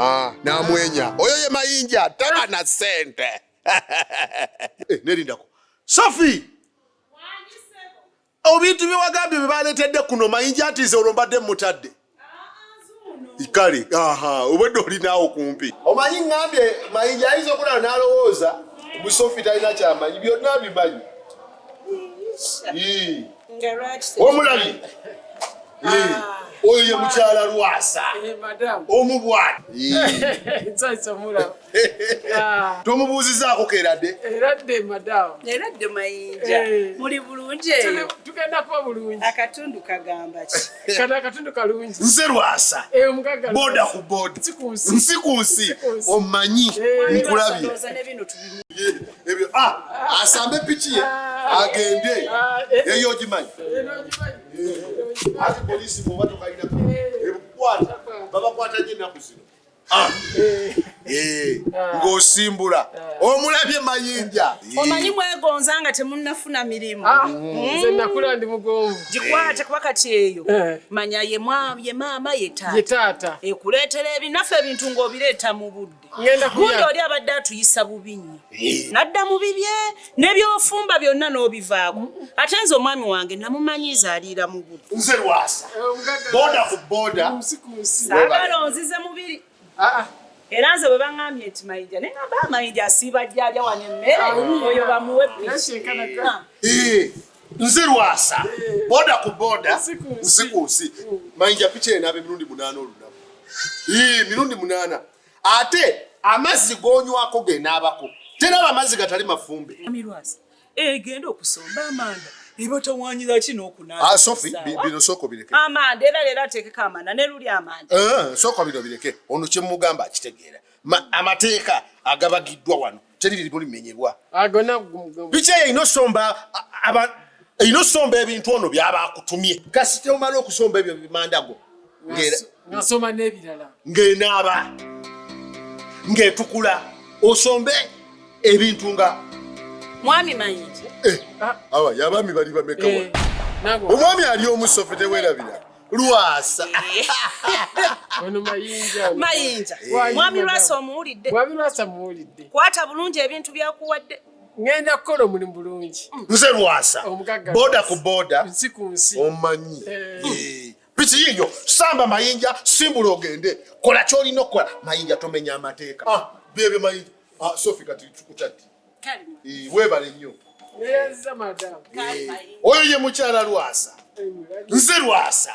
Ah, namwenya oyo ye mayinja taba na sente eh, nerindako sofi obintu byewagambye byebaletedde kuno mayinja atize olwo mbadde mutadde kale aha obwedde olinaawo kumpi omanyi ngambye mayinja ayinza okulala nalowooza musofi talina kyamanyi byonna bimanyi omulabi ah. oyo ye mukyala lwasa eh, omubwana ah. tomubuuzizaako keradde akatundu kagambaki nze lwasa eh, boda ku boda nsi ku nsi omanyi eh, nkulabye ebyo ah, asambe piki ye agende eyo ogimanyi ati polisi bwoba tokalina ebukwata babakwata nyo ennaku zino ah. Eh, ng'osimbula omulabye mayinja omanyi mwegonza nga temunnafuna mirimu ah, hmm. nze nakula ndi mugonvu gikwate kuba kati eyo eh. manya ye maama ye taata ekuleetera ebinaffe ebintu ng'obireeta mu budde gundi oli abadde atuyisa bubi nnyo nadda mu bibye nebyofumba byonna n'obivaako ate nze omwami wange namumanyiiza aliira mu bulisaagala onzize mubiri ah, ah. era nze bwe baŋambye nti mayinja naye ngamba amayinja asiiba jjaja wano emmere ah. oyo bamuwe nze lwasa boda ku boda usiku usi mayinja picha ena abe mirundi munana olunaku ii mirundi munana ate amazzi gonywako genaabako tenaba amazzi gatali mafumbe egenda eh, okusomba amanda ebatawanyira ki nokunaamanda ah, era leero atekeko amanda neluli amanda eh, sooka bino bireke ono kyemugamba akitegeera amateeka agabagiddwa wano teri lirimu limenyebwa biki eyo erina osomba erina osomba ebintu ono byaba akutumye kasita omala okusomba ebyo bimandago nasoma n'ebirala ng'enaaba ng'etukula osombe ebintu nga mwami mayinji eh, ah. awa yabaami bali bamekawa eh, omwami ali omusofetewerabira Lwasa. Ono mayinja. Mayinja. Mwami Lwasa omuwulidde. Mwami Lwasa muwulidde. Kwata bulungi ebintu byakuwadde. ngenda kukola omulimu bulungi nze lwasa boda ku boda nsi ku nsi omanyi eh. Eh. piki yiyo samba mayinja simbula ogende kola kyolina okukola mayinja tomenya amateeka ah, bebe mayinja ah, sofi kati kutaddi eh, webale nnyo eh, oyo ye mukyala lwasa nze lwasa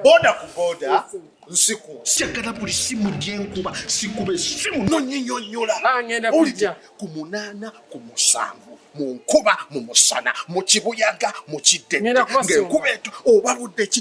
boda ku boda nsiku njagala buli simu gyenkuba sikuba esimu nonyinyonyola ah, ku munaana ku musanvu mu nkuba mu musana mu kibuyaga mu kidde ng'enkuba eto oba budde ki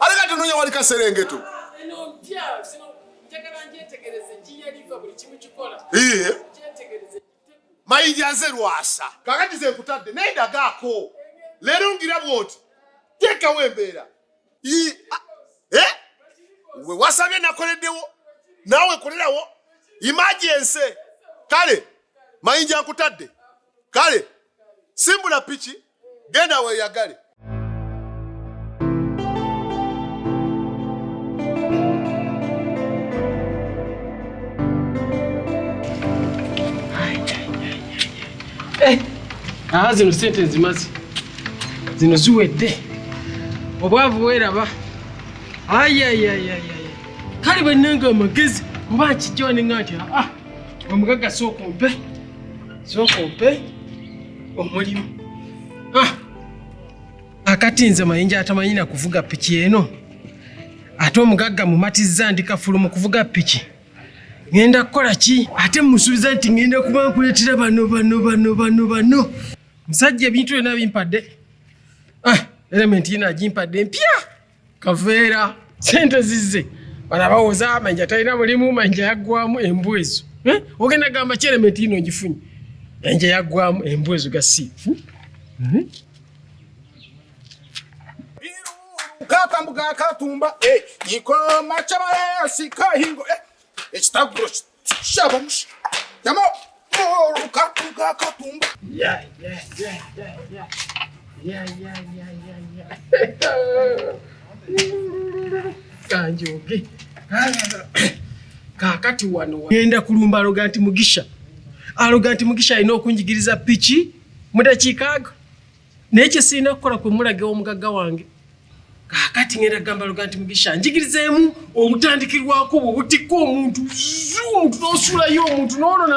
Aleka tunonya wali kaserengeto. Eno mpya sino njagala njetegereze njiya liva buli kimu kikola. Iye. Njetegereze. Mayija nze lwasa. Kakati ze kutadde naye dagaako. Leero ngira bwoti. Teka wembeera. Ii. Eh? We wasabye nakoleddewo. Nawe kolerawo. Emergency. Kale. Mayinja nkutadde. Kale. Simbula piki. genda weyagale. Eh, aha zino sente nzimazi zino ziwedde obwavu bweraba ayayayaya kale bannanga amagezi oba nkijjone nga nti aa ah, ah, omugagga sookompe sookompe omulimu ah! akati nze mayinja atamanyi na kuvuga piki eno ate omugagga mumatizza ndi kafulu mu kuvuga piki ŋenda kukola ki ate musuubiza nti ŋenda kuba nkuleetera bano bano bano bano bano musajja ebintu byona bimpadde ah, elementi yina agimpadde mpya kaveera sente zizze bana bawoza manja talina mulimu manja yaggwamu embwa ezo eh? ogenda gamba kyelementi yino ngifunye manja yaggwamu embwa ezo gasiifu hmm? katambuga katumba eh, ikoma kyabayasi kahingo eh, ekitaguro kanjoge kakati wano genda kulumba aloga nti mugisha aloga nti mugisha alina okunjigiriza piki mudakiikaago naye kyesirina kukola kwe mulaga omugagga wange kakati ngenda kugamba luga nti mugisha njigirizeemu obutandikirwako bwe butikka omuntu zu omuntu n'osuulayo omuntu n'olona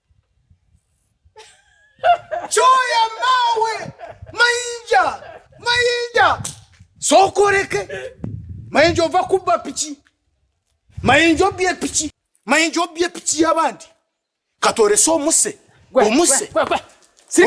Choya mawe mayinja mayinja sokoreke mayinja ova kubba piki mayinja obbye piki mayinja obbye piki yabandi katolese omuse omuse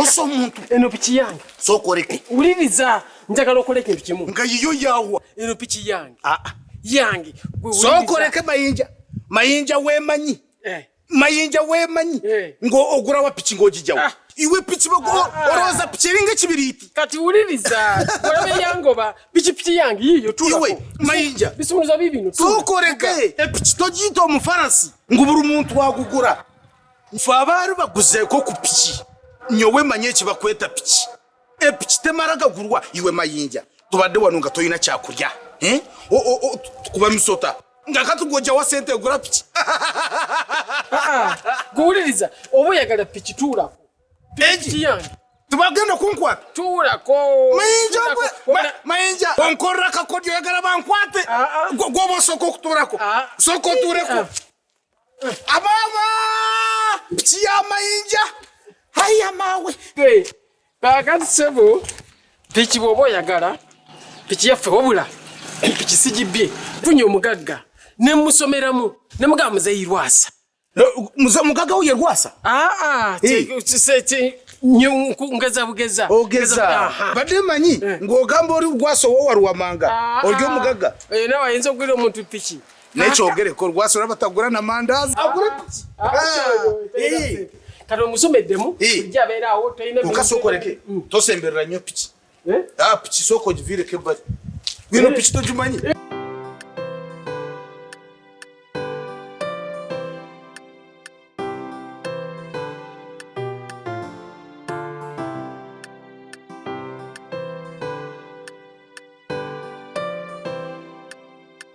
osa omuntu eno piki yange sokoreke uliriza njagala okola ekintu kimu nga yiyo yawa eno piki yange ah, ah. yange sokoreke mayinja mayinja wemanyi eh. mayinja wemanyi eh. ng'ogula wa piki ng'ogijawo ah. iwe piki olowooza ah. piki eringa ekibiriiti kati wuliriza olabe yangoba pikipiki yange yiyo iwe mayinja bisumuluza bibino tukoleke epiki togiyita omufarasi ngu buli muntu agugula nfe abaali baguzeeko ku piki nyowe manye ekibakweta piki epiki temala gagulwa iwe mayinja tubadde wano nga tolina kyakulya eh? tukuba misota nga katugwojawa sente egula piki ah, guwuliriza oba oyagala piki tuulako piki yange tibagenda kunkwata tuulako mayinja mayinja onkorera kakodyo oyagala bankwate ah, ah. gwoba osooka okutuulako sooka otuuleko Abama kiyamayinja haya mawe kakati sebo piki bwoba oyagala piki yaffe wabula piki sigibbye funye omugagga nemusomeramu nemugamba muzeyi lwasa mugagga wo ye lwasa aa ngeza bugeza ogeza badde manyi eh. ng'ogamba oli lwasa owowaluwamanga ah. olyo omugagga eh, nawe ayinza okugwira omuntu piki naye kyogereko lwasula batagula na mandazi kati omusomeddemu ojja abeeraawo tolina okasokoleke mm. tosemberera nnyo piki eh? ah, piki sooka ogiviireko ebbali bino eh? piki togimanyi